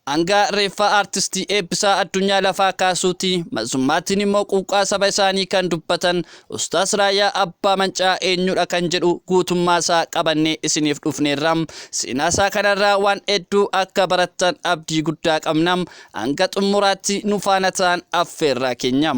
Hanga reeffa Artisti Eebbisaa Addunyaa lafaa kaasuuti, mazzummaatiin immoo quuqqaa saba isaanii kan dubbatan Ustaaz Raayyaa Abbaa Mancaa eenyudha kan jedhu guutummaa isaa qabannee isiniif dhufneerra. Seenaa isaa kanarraa waan hedduu akka barattan abdii guddaa qabna. Hanga xummuraatti nu faana ta'aan affeerraa keenya.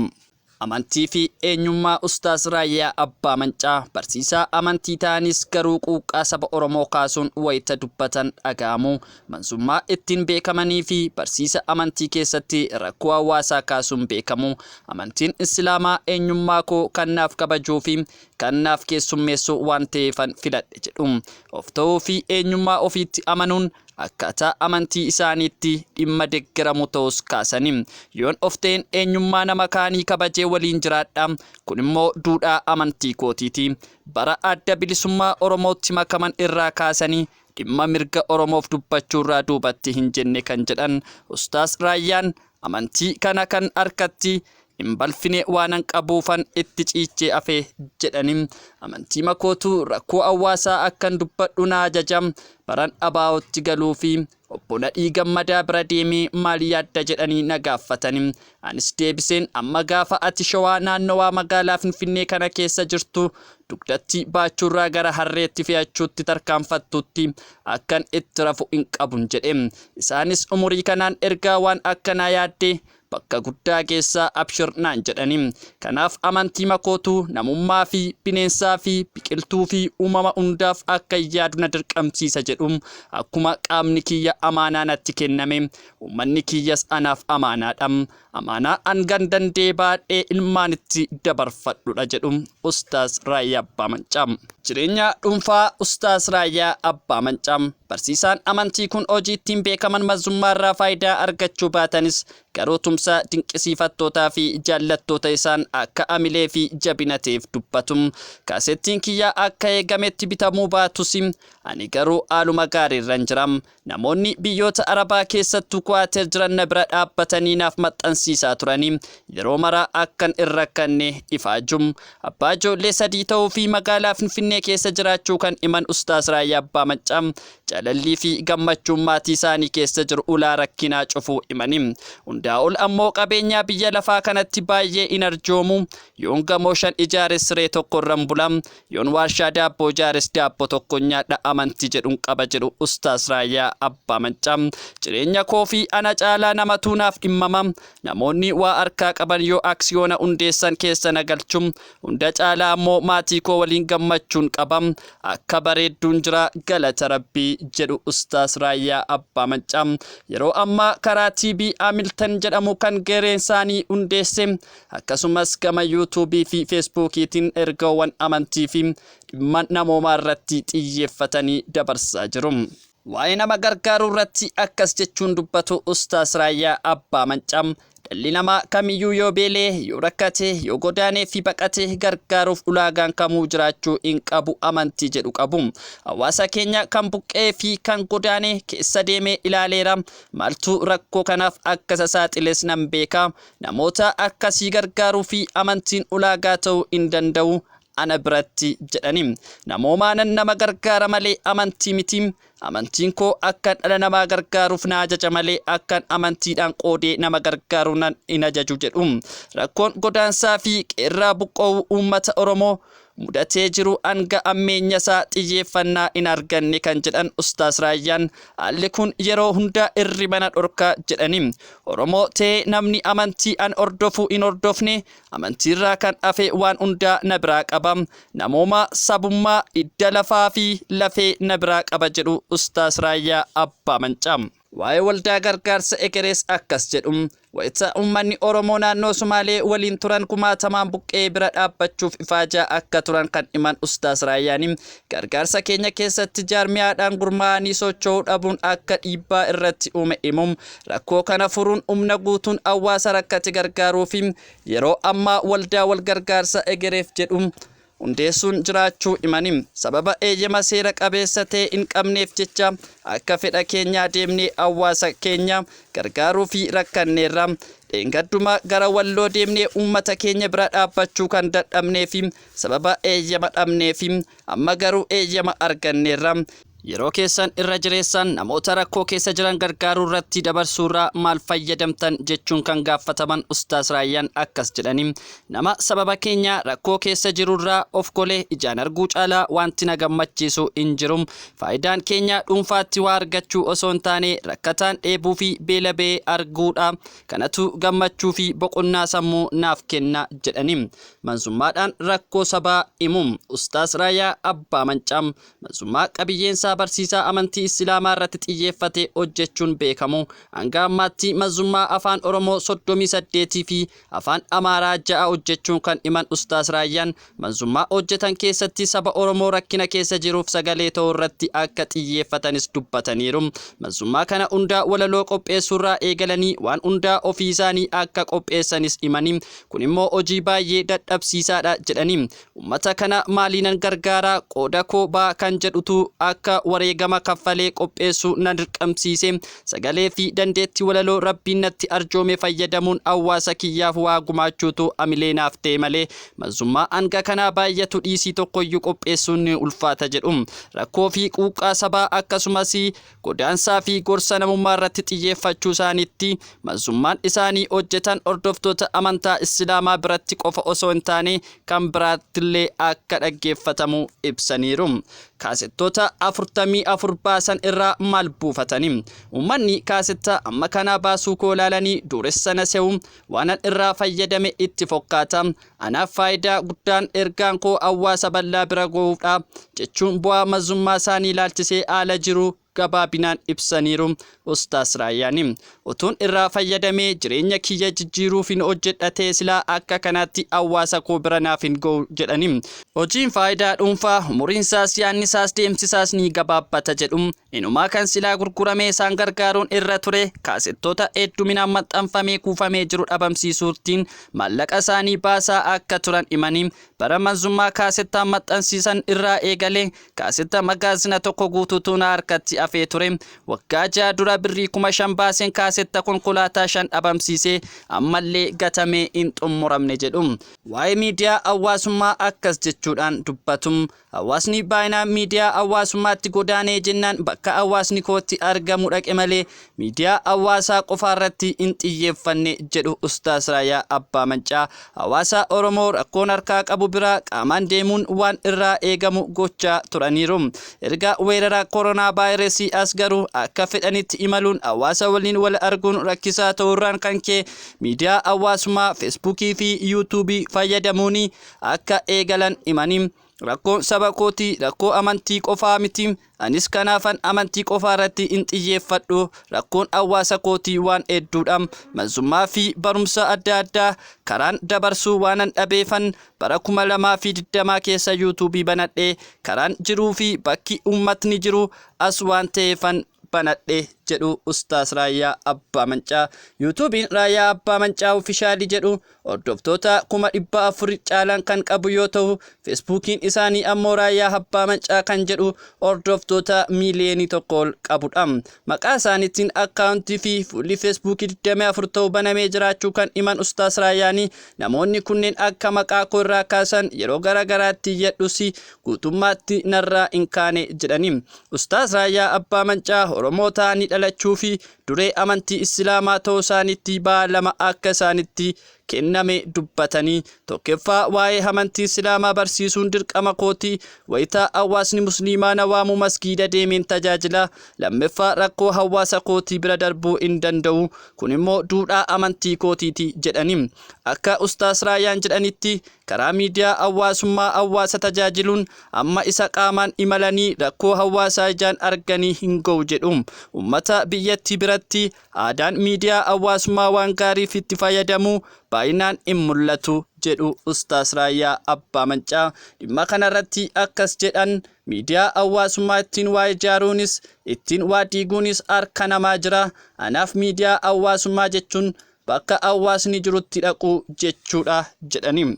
Amantii fi eenyummaa Ustaaz Raayyaa Abbaa Mancaa barsiisaa amantii ta'anis garuu quuqqaa saba Oromoo kaasuun wayita dubbatan dhaga'amu. Manzummaa ittiin beekamanii fi barsiisa amantii keessatti rakkoo hawaasaa kaasuun beekamu. Amantiin Islaamaa eenyummaa koo kan naaf kabajuu fi kan naaf keessummeessu waan ta'eefan filadhe jedhu. Of ta'uu fi eenyummaa ofiitti amanuun akkaataa amantii isaaniitti dhimma deggeramu ta'uus kaasanii, yoon of ta'een eenyummaa nama kaanii kabajee waliin jiraadha, kun immoo duudhaa amantii kootiiti. Bara Adda Bilisummaa Oromootti makaman irraa kaasanii dhimma mirga Oromoof dubbachuurraa duubatti hin jenne kan jedhan Ustaaz Raayyaan, Amantii kana kan harkatti hin balfine waanan qabuufan itti ciichee hafe, jedhani. Amantiima kootu rakkoo hawaasaa akkan dubbadhu na ajaja. Baran ABOtti galuufi Obbo Nadhii Gammadaa bira deemee maal yaadda jedhanii na gaaffatani. Anis deebiseen amma gaafa ati Shawaa naannowaa magaalaa Finfinnee kana keessa jirtu dugdatti baachuurraa gara harreetti fe'achuutti tarkaanfattutti akkan itti rafu hin qabun jedhe. Isaanis umurii kanaan ergaa waan akkanaa yaaddee bakka guddaa geessaa abshir naan jedhani. Kanaaf amantii makootu namummaa fi bineensaa fi biqiltuu fi uumama hundaaf akkan yaadu na dirqamsiisa jedhu. Akkuma qaamni kiyya amaanaa natti kenname, uummanni kiyyas anaaf amaanaadha. Amaanaa hangan danda'e baadhee ilmaanitti dabarfadhudha jedhu Ustaaz Raayyaa Abbaa Mancaa. Jireenya dhuunfaa Ustaaz Raayyaa Abbaa Mancaa. Barsiisaan amantii kun hojii ittiin beekaman mazummaarraa faayidaa argachuu baatanis garuu tumsa dinqisiifattootaa fi jaallattoota isaan akka amilee fi jabina ta'eef dubbatu. Kaasettiin kiyya akka eegametti bitamuu baatus ani garuu haaluma gaariirran jira. Namoonni biyyoota Arabaa keessattuu Kuwaater jiran na bira dhaabbatanii naaf maxxansiisaa turanii yeroo mara akkan hin rakkanne ifaaju. Abbaa ijoollee sadii ta'uu fi magaalaa Finfinnee keessa jiraachuu kan himan Ustaaz Raayyaa Abbaa Maccaa jalallii fi gammachuun maatii isaanii keessa jiru ulaa rakkinaa cufuu himani. Hundaa ol ammoo qabeenyaa biyya lafaa kanatti baay'ee hin arjoomu. Yoon gamoo shan ijaare siree tokko irran bula. Yoon waarshaa daabboo ijaares daabboo tokkon nyaadha amantii jedhun qaba jedhu Ustaaz Raayyaa Abbaa Maccaa. Jireenya koo fi ana caalaa namatu naaf dhimmama. Namoonni waa harkaa qaban yoo aksiyoona hundeessan keessa na galchu. Hunda caalaa ammoo maatii koo waliin gammachuun qaba. Akka bareedduun jira galata Rabbii jedhu Ustaaz Raayyaa Abbaa Maccaa. Yeroo ammaa karaa TB Hamilton jedhamu kan gareen isaanii hundeesse Akkasumas gama YouTube fi Feesbuukiitiin ergaawwan amantii fi dhimma namoomaa irratti xiyyeeffatanii dabarsaa jiru. Waa'ee nama gargaaruu irratti akkas jechuun dubbatu Ustaaz Raayyaa Abbaa Mancaa, Dhalli namaa kamiyyuu yoo beela'e, yoo rakkate, yoo godaanee fi baqate gargaaruuf ulaagaan kamuu jiraachuu hin qabu amantii jedhu qabu. Hawaasa keenya kan buqqa'ee fi kan godaane keessa deemee ilaaleera. Maaltu rakkoo kanaaf akka isa saaxiles nan beeka. namoota akkasii gargaaruu fi amantiin ulaagaa ta'uu hin danda'u ana biratti jedhani. Namoomaanan nama gargaara malee amantii miti. Amantiin koo akkan dhala namaa gargaaruuf na ajaja malee akkan amantiidhaan qoodee nama gargaaru nan hin ajaju jedhu. Rakkoon godaansaa fi qeerraa buqqa'uu uummata Oromoo mudatee jiru hanga ammeenyasaa xiyyeeffannaa hin arganne kan jedhan Ustaaz Raayyaan, haalli kun yeroo hunda hirriba na dhorka jedhani. Oromoo ta'ee namni amantii an hordofu hin hordofne amantiirraa kan hafe waan hundaa na biraa qaba. Namoomaa, sabummaa, hidda lafaafi lafee na biraa qaba jedhu Ustaaz Raayyaa Abbaa Mancaa. Waa'ee Waldaa Gargaarsa Ekerees akkas jedhu, Wayita uummanni Oromoo naannoo Sumaalee waliin turan kumaatamaan buqqa'ee bira dhaabbachuuf ifaajaa akka turan kan himan Ustaaz Raayyaan, gargaarsa keenya keessatti jaarmiyaadhaan gurmaa'anii socho'uu dhabuun akka dhiibbaa irratti uume himu. Rakkoo kana furuun humna guutuun hawaasa rakkate gargaaruufi. Yeroo ammaa Waldaa Walgargaarsa Egereef jedhu. hundeessuun jiraachuu himani, sababa eeyyama seera qabeessa ta'e hin qabneef jecha akka fedha keenyaa deemnee hawaasa keenya gargaaruufi rakkanneerra. Dheengadduma gara Walloo deemnee uummata keenya bira dhaabbachuu kan dadhabneefi sababa eeyyama dhabneefi. Amma garuu eeyyama arganneerra. Yeroo keessan irra jireessaan namoota rakkoo keessa jiran gargaaruu irratti dabarsuu irraa maal fayyadamtan? jechuun kan gaaffataman Ustaaz Raayyaan akkas jedhanii, Nama sababa keenya rakkoo keessa jiru irraa of golee ijaan arguu caalaa waanti na gammachiisu hin jiru. Faayidaan keenya dhuunfaatti waa argachuu osoo hin taane rakkataan dheebuu fi beela ba'ee arguu dha. Kanatu gammachuu fi boqonnaa sammuu naaf kenna jedhanii manzummaadhaan rakkoo sabaa himu. Ustaaz Raayyaa Abbaa Mancaa Manzummaa qabiyyeensaa barsiisaa amantii Issilaamaarratti xiyyeeffatee hojjechuun beekamu. Hanga ammaatti manzummaa Afaan Oromoo 38 fi Afaan Amaaraa 6 hojjechuun kan himan Ustaaz Raayyaan, manzummaa hojjetan keessatti saba Oromoo rakkina keessa jiruuf sagalee ta'uurratti akka xiyyeeffatanis dubbataniiru. Manzummaa kana hundaa walaloo qopheessuurraa eegalanii waan hundaa ofiisaanii akka qopheessanis himanii, kunimmoo hojii baay'ee dadhabsiisaadha jedhanii, Ummata kana maaliinan gargaara, qooda koo ba'a kan jedhutu akka wareegama kaffalee qopheessu na dirqamsiise. Sagalee fi dandeettii walaloo Rabbiin natti arjoome fayyadamuun hawwaasa kiyyaaf waa gumaachuutu hamilee naaf ta'e malee manzummaa hanga kanaa baay'atu dhiisii tokkoyyuu qopheessuun ni ulfaata jedhu. Rakkoo fi quuqqaa sabaa akkasumas godaansaa fi gorsa namummaa irratti xiyyeeffachuu isaaniitti manzummaan isaanii hojjetan hordoftoota amantaa Islaamaa biratti qofa osoo hin taane kan biraattillee akka dhaggeeffatamu ibsaniiru. Kaasettoota 44 baasan irraa maal buufatani? Uummanni kaasetta amma kanaa baasuu koo ilaalanii duuressa na se'u, waanan irraa fayyadame itti fokkaata, Anaaf faayidaa guddaan ergaan koo hawwaasa bal'aa bira gohuufdha, jechuun bu'aa mazummaa isaanii ilaalchisee haala jiru gabaabinaan ibsaniiru Ustaaz Raayyaan. Utuun irraa fayyadamee jireenya kiyya jijjiiruufin hojjedha ta'e silaa akka kanaatti hawwaasa koo bira naaf hin gohu jedhani. Hojiin faayidaa dhuunfaa umuriinsaas yaannisaas deemsisaas ni gabaabbata jedhu Inumaa kan silaa gurguramee isaan gargaaruun irra ture kaasettoota hedduminaan maxxanfamee kuufamee jiru dhabamsiisuurtiin maallaqa isaanii baasaa akka turan himanii, bara Manzummaa kaasettaan maxxansiisan irraa eegalee kaasetta magaazina tokko guutuutu na harkatti hafee ture. Waggaa ja'a dura birrii kuma shan baaseen kaasetta konkolaataa shan dhabamsiise ammallee gatamee hin xummuramne jedhu. Waa'ee miidiyaa hawaasummaa akkas jechuudhaan dubbatu. Hawaasni baayinaan miidiyaa hawaasummaatti godaanee jennaan bakka hawaasni kootti argamu dhaqe malee miidiyaa hawaasaa qofaarratti hin xiyyeeffanne jedhu Ustaaz Raayyaa Abbaa Mancaa. Hawaasa Oromoo rakkoon harkaa qabu bira qaamaan deemuun waan irraa eegamu gochaa turaniiru. Erga weerara koronaa vaayirasii as garuu akka fedhanitti imaluun hawaasa waliin wal arguun rakkisaa ta'uurraan kan ka'e miidiyaa hawaasummaa Feesbuukii fi Yuutuubii fayyadamuun akka eegalan himanii, rakkoon saba kootii rakkoo amantii qofaa miti, anis kanaafan amantii qofaarratti hin xiyyeeffadhu, rakkoon hawaasa kootii waan hedduudha, malsummaa fi barumsa adda addaa karaan dabarsu waanan dhabeefan bara 2020 keessa YouTube banadhe, karaan jiruu fi bakki uummatni jiru as waan ta'eefan banadhe jedhu Ustaas Raayyaa Abbaa Mancaa. Yuutuubiin Raayyaa Abbaa Mancaa Ofishaalii jedhu hordoftoota kuma dhibba afur caalan kan qabu yoo ta'u, Feesbuukiin isaanii ammoo Raayyaa Abbaa Mancaa kan jedhu hordoftoota miiliyoonii tokko ol qabudha. Maqaa isaaniitiin akkaawuntii fi fuulli Feesbuukii 24 ta'u banamee jiraachuu kan himan Ustaas Raayyaanii namoonni kunneen akka maqaa koo irraa kaasan yeroo gara garaatti iyyadhus guutummaatti narraa hin kaane jedhani. Ustaaz Raayyaa Abbaa Mancaa Oromoo ta'anii dhalachuu fi duree amantii Islaamaa ta'uu isaaniitti ba'aa lama akka isaanitti kenname dubbatanii, tokkeffaa waa'ee amantii Islaamaa barsiisuun dirqama kooti, wayita hawaasni Musliimaa na waamu masgiida deemeen tajaajila, lammeffaa rakkoo hawaasa kootii bira darbuu hin danda'u, kun immoo duudhaa amantii kootiiti jedhani. Akka Ustaaz Raayyaan jedhanitti, karaa miidiyaa hawwaasummaa hawwaasa tajaajiluun amma isa qaamaan imalanii rakkoo hawwaasaa ijaan arganii hin ga'u jedhu. Ummata biyyattii biratti aadaan miidiyaa hawwaasummaa waan gaariif itti fayyadamuu baay'inaan hin mul'atu jedhu Ustaaz Raayyaa Abbaa Mancaa. Dhimma kanarratti akkas jedhan, Miidiyaa hawwaasummaa ittiin waa ijaaruunis, ittiin waa diiguunis harka namaa jira. Anaaf miidiyaa hawwaasummaa jechuun bakka hawwaasni jirutti dhaquu jechuudha jedhani.